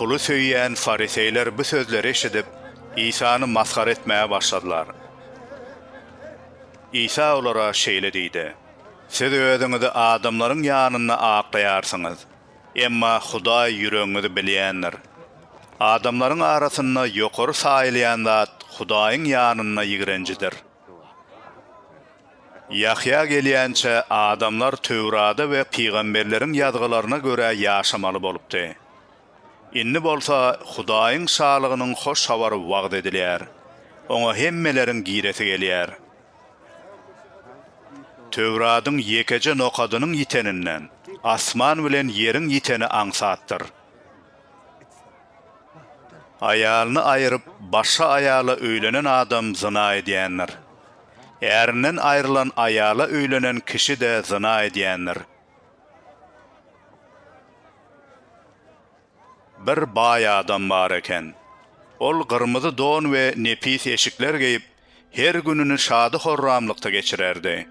Puly söýýän fariseýler bu sözleri eşidip, Isany masgara etmäge başladylar. Isa olara şeýle diýdi, Siz özüňizi adamlaryň ýanynda aklaýarsyňyz, emma Hudaý ýüregiňizi bilýändir. Adamlaryň arasynda ýokary saýylýan zat Hudaýyň ýanynda ýigrenjidir. Ýahýa gelýänçä adamlar Töwrada we pygamberleriň ýazgylaryna görä ýaşamaly bolupdy. Indi bolsa Hudaýyň Şalygynyň hoş habary wagyz edilýär. Oňa hemmeleriň giresi gelýär. Töwradyň ýekeje nokadynyň ýiteninden, asman bilen ýeriň ýiteni aňsatdyr. Aýalyny aýryp, başga aýala öýlenen adam zyna edýändir. Ärinden aýrylan aýala öýlenen kişi-de zyna edýändir. Bir baý adam bar eken. Ol gyrmyzy don we nepis eşikler geýip, Her gününi şady-horramlykda geçirerdi.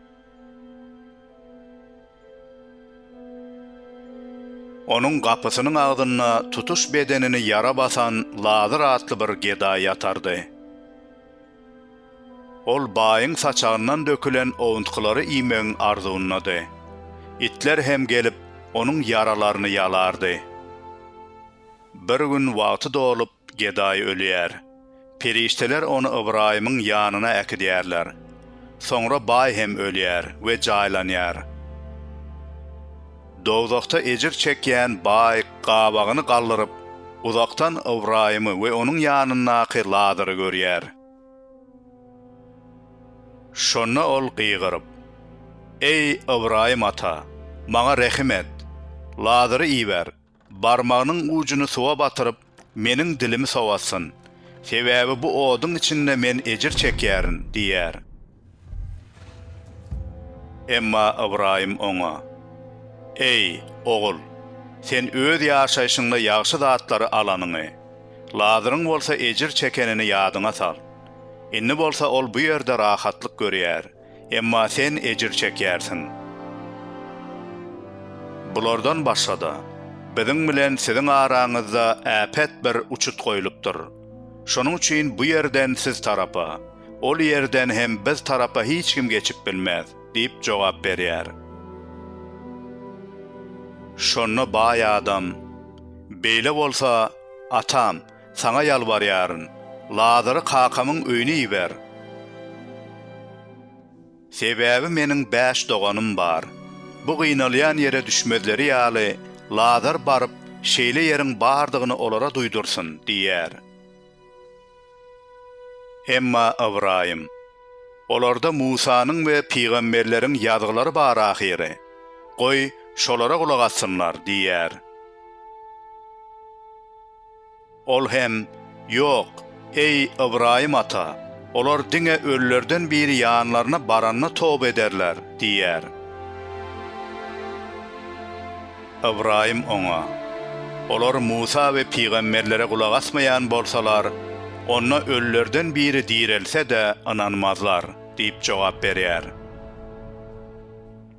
Onuň gapysynyň agzynda tutuş bedenini ýara basan Lazyr atly bir geda ýatardy. Ol baýyň saçagyndan dökülen owuntgylary iýmegiň arzuwyndady. Itler hem gelip, onuň ýaralaryny ýalardy. Bir gün wagty dolup, Gedaý ölýär. Perişdeler ony Ybraýymyň ýanyna äkidýärler. Soňra baý hem ölýär we jaýlanýar. Dowzahda ejir çekýän baý gabagyny galdyryp, uzakdan Ybraýymy we onuň ýanyndaky Lazary görýär. Şonda ol gygyryp, Eý, Ybraýym ata, maňa rehim et! Lazary iber! Barmagynyň ujuny suwa batyryp, meniň dilimi sowatsyn. Sebäbi bu oduň içinde men ejir çekýärin, diýýär. Emma Ybraýym oňa, Eý, ogul, sen öz ýaşaýşyňda ýagşy zatlary alanyňy, Lazaryň bolsa ejir çekenini ýadyňa sal. Indi bolsa ol bu ýerde rahatlyk görýär. Emma sen ejir çekýärsiň. Bulardan başga-da, biziň bilen siziň araňyzda äpet bir uçut goýlupdyr. Şonuň üçin bu ýerden siz tarapa, ol ýerden hem biz tarapa hiç kim geçip bilmez diýip jogap berýär. Şonda baý adam, Beýle bolsa, atam, Saňa ýalbarýaryn, Lazary kakamyň öýüne iber. Sebäbi meniň bäş doganym bar. Bu gynalýan ýere düşmezleri ýaly, Lazar baryp, şeýle ýeriň bardygyny olara duýdursyn, diýýär. Emma Ybraýym, Olarda Musanyň we pygamberleriň ýazgylary bar ahyry. Goý, şolara gulak assynlar, diýýär. Ol hem, Ýok, eý, Ybraýym ata, olar diňe ölülerden biri ýanlaryna baranda toba ederler diýýär. Ybraýym oňa, Olar Musa we pygamberlere gulak asmaýan bolsalar, onda ölülerden biri direlse-de ynanmazlar diýip jogap berýär.